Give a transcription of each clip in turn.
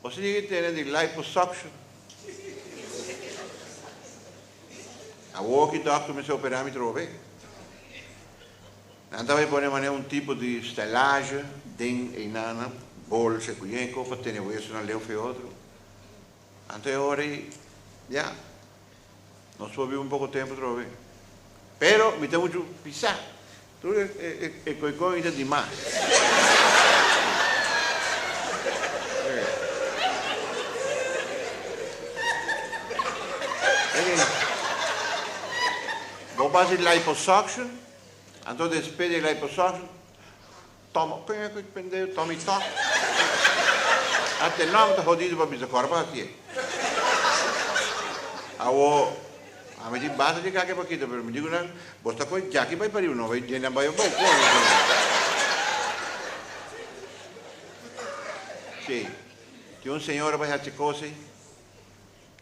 Bo si tin e tene di liposuction. Awor ki dokter mester operá mi trova bey. Nan ta bay pone mane un tipo di stellage den eynana bolsa e kuyenko pa tene wesonan leu fe otro. Anto e ora ey, ya. Nos por biba un poko tempu trova be. Pero mi ta muchu pisá. Tur e koikoi mi ta di mas. Bo basa di liposuction, anto despe di e liposuction. Toma p'e cu pendeu toma y ta. Ant e nom ta hodido pa bisa corba hacie. Awo ami tin basta di cake pa kita pero mi dico nan bos ta coge jaki bay pariba no bay den nan bay abao con mi dico nan. Sey tin un señora bay haci cosey.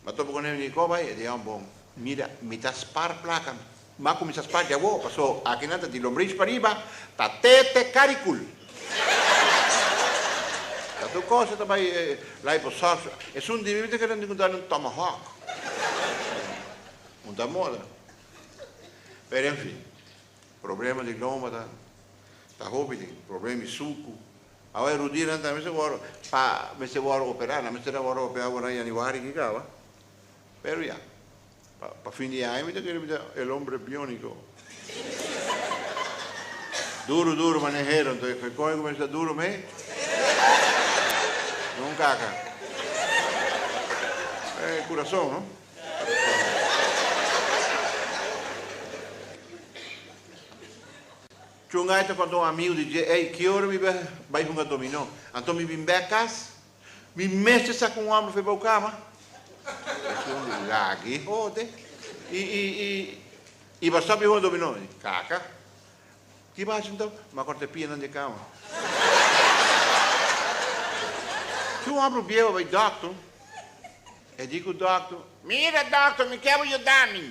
Ma topo cu nene Nico bay e dia un bon. Mira, mi ta spar placa. Mi a cuminsa spar dja awo, paso akinan ta di lombrich pariba, ta tete caricul. Ta tur cosa ta bay lai bo surf. Esun di mi ta keda tin cu done un tomahawk. Un ta moda. Pero en fin, problema di loma ta, ta hopi tin, problema di sucu. Awa e rudienan ta mester wòrdu pa mester wòrdu operá, nan mester a wòrdu operá awor na yanüari ki kaba, pero ya pa pa fin di aña mi ta kere mi ta el hombre biónico. Duru duru mané Heron ta e kònde ku mi a sta duru mi? Don Kaka. E kurason no. Chunga ai ta konta un amigu di dje, Ey, ki ora mi bai hunga dominó? Anto mi bin bek kas. Mi mester sa ku un homber fe bou kama. E shon di lagi hode. I, i, i, i ba stop di hunga dominó? Kaka. Ki ba haci anto? Mi a korta e pianan di e kama. Si un homber biehu a bai dòkter, e di ku dòkter, Mira dòkter, mi ke bo yuda mi.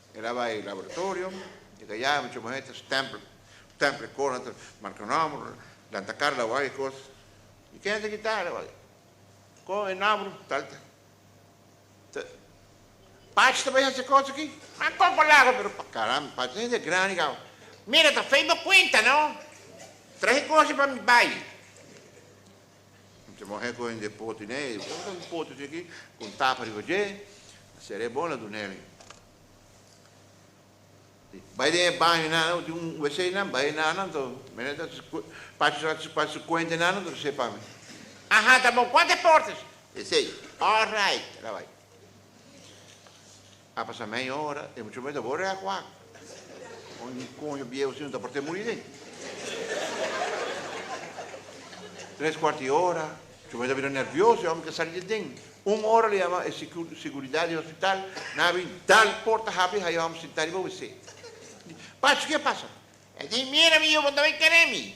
El a bai laboratorio, e ta yama e chuma henter, stempel, stempel e kos henter, marka nòmber, lanta kar lawá e kos. I ken ta kita alawá i kon e nòmber tal ta? Ta Pachi ta bai hasi e kos aki? M'a koko laga pero pa karamba, Pachi ta hende grandi kau. Mira, ta fei bo kuenta, no? Traha e kosnan pa mi bai. Te mohe ku hende poti nei, e por un poti te aki ku un tapa riba dje, a sera e bon a duna el. Bai den e baño nan, nan ku tin un wc nan, bai nan nan to, mira ta pachi so ta pachi su kuenta nan to rese pa mi. Aha, ta bon, kuanta e portes? Esei, alright, a bai. A pasa meia ora e muchacho mester bo rèk wak. Con e coño biehu así no ta por te muri nei. Tres cuarto di ora, muchacho mester a bira nervioso, e hombre ke sali di den. Un ora lo yama e seguridad di hospital, nan a bini dal por ta habri haña e hombre sintá riba wc. Di, Pacho, ke pasa? E di, Mira mi yu, bo ta bay kere mi.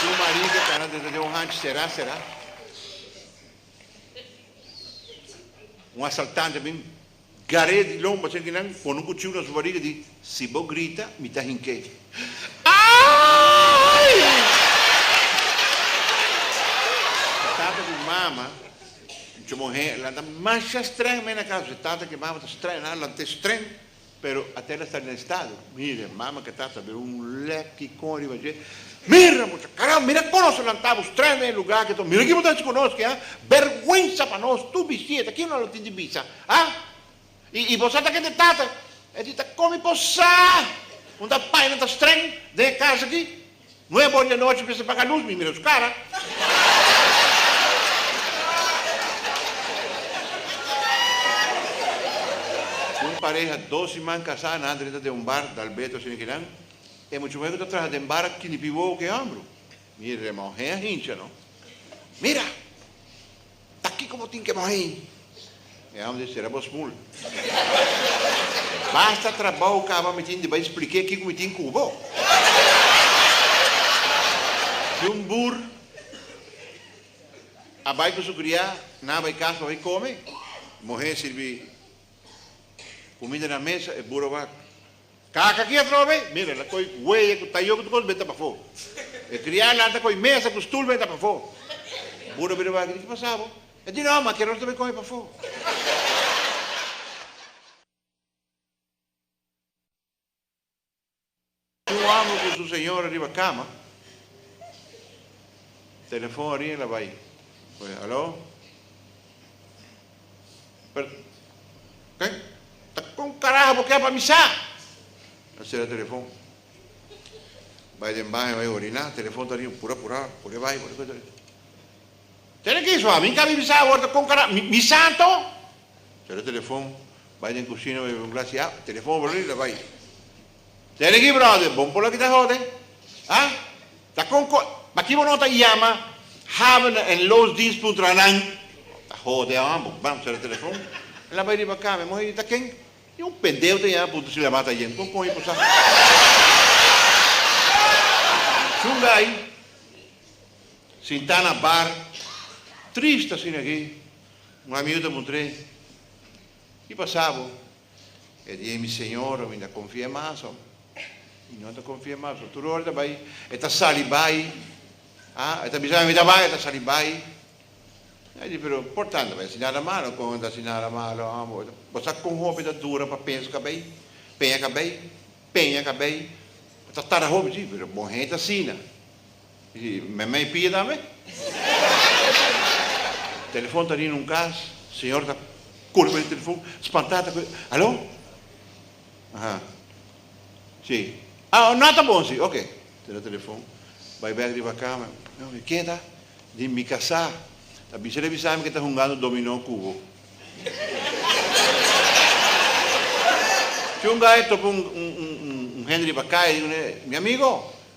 Su mari ta tanda dentro den un hanchi será será. Un asaltante bin gar'é di lomba c'en kinan pone un kuchiu na su bariga di si bo grita mi ta hink'é. Aaiiy! E tata ku mama cu muhé lanta masha strèng mei na kaso. E tata ku e mama ta strèng, nan lant'é strèng. Pero ate na sa den estado. Mira e mama ke tata bira un lek ki kon riba dje, Mira mucha, karam, mira e konoso nan ta bus trae na e luga aki to, mira ki bo ta haci ku nos ki, ha? Bergwensa pa nos tur bistida, ta kiko nan lo tin di bisa, ha? I bo sa ta kende tata? E di ta komi po sa, un ta paña nan ta streng den e kasa aki. Nuebe or di anochi mester paga lus, mi mira su cara. Un pareha dos siman casá nan ta renta den un bar dal beto asina ki nan, e muchamuher cu ta traha den bar a kini pi wowo cu e hombru. Mi remon, hen a hincha no. Mira! Ta kiko bo tin ke bai hei? E hombre sera bo smul. Basta trabou kaba mi tin di bai spliké kiko mi tin ku bo. Si un bur a bai ku su kriá na bai kas pa bai kome, muhé sirbi kumida na mesa, e bur a wak. Kaka ki a troa bay? Mira, el a koy weya ku tayo ku tur kos beta pafó. E kria a lanta koy mesa ku stul beta pafó. Bura bira wak, e di ki pasa bo? E di no, makeros ta bay koy pafó. Un homber ku su señora riba kama, telefon a rin el a bay, alo. Pero, kei, ta kon karaha bo ke pa mi sa? Nan sera telefon. Bai den baño, bai oriná, telefon ta riba, pura, pura, pure bai, pure kos der. Sera ke so? Ami ka bibi sa awor, ta kon karaha, mi, mi sa anto? Sera telefon, bai den kusina, bai bibi un glas ya, telefon a bali, la bai. Sergi brother bon por lo ki ta hode ha ta con cos pakiy bo no ta yama Havener en loosdienst puntra na nan ta hode ha bo bam cera telefon el a bay riba cama e muhe di ta ken ni un pendeo ta yama puntra si la mata yen con coño por sa shunga ayi sinta na bar triste asina ki un amigo ta puntra y pasa bo. E di ei mi señor a winda confia mas hombre. Mi no ta confia mas so tur ora ta bay e ta sali bay ha e ta bisa mi mi ta bay e ta sali bay. Ai di pero por tanda bay asi nada malo con ta asi nada malo hombre bo sa con hopi ta dura pa pensa cabey peña cabey peña cabey ta tara hopi si pero bon hende ta asina. I memey pia tambe. Telefon ta rina un kas, señor ta kore bai di telefon, spantá ta kore, Aló? Aha. Sí. Ah, nan ta bon, sí. Oke. Tira telefon, bai bèk riba kama, i ke ta? Di mi kasá. Ta bisa el a bisa mi ku e ta hungando dominó ku bo. Chunga e topa un hende riba kai, mi amigo.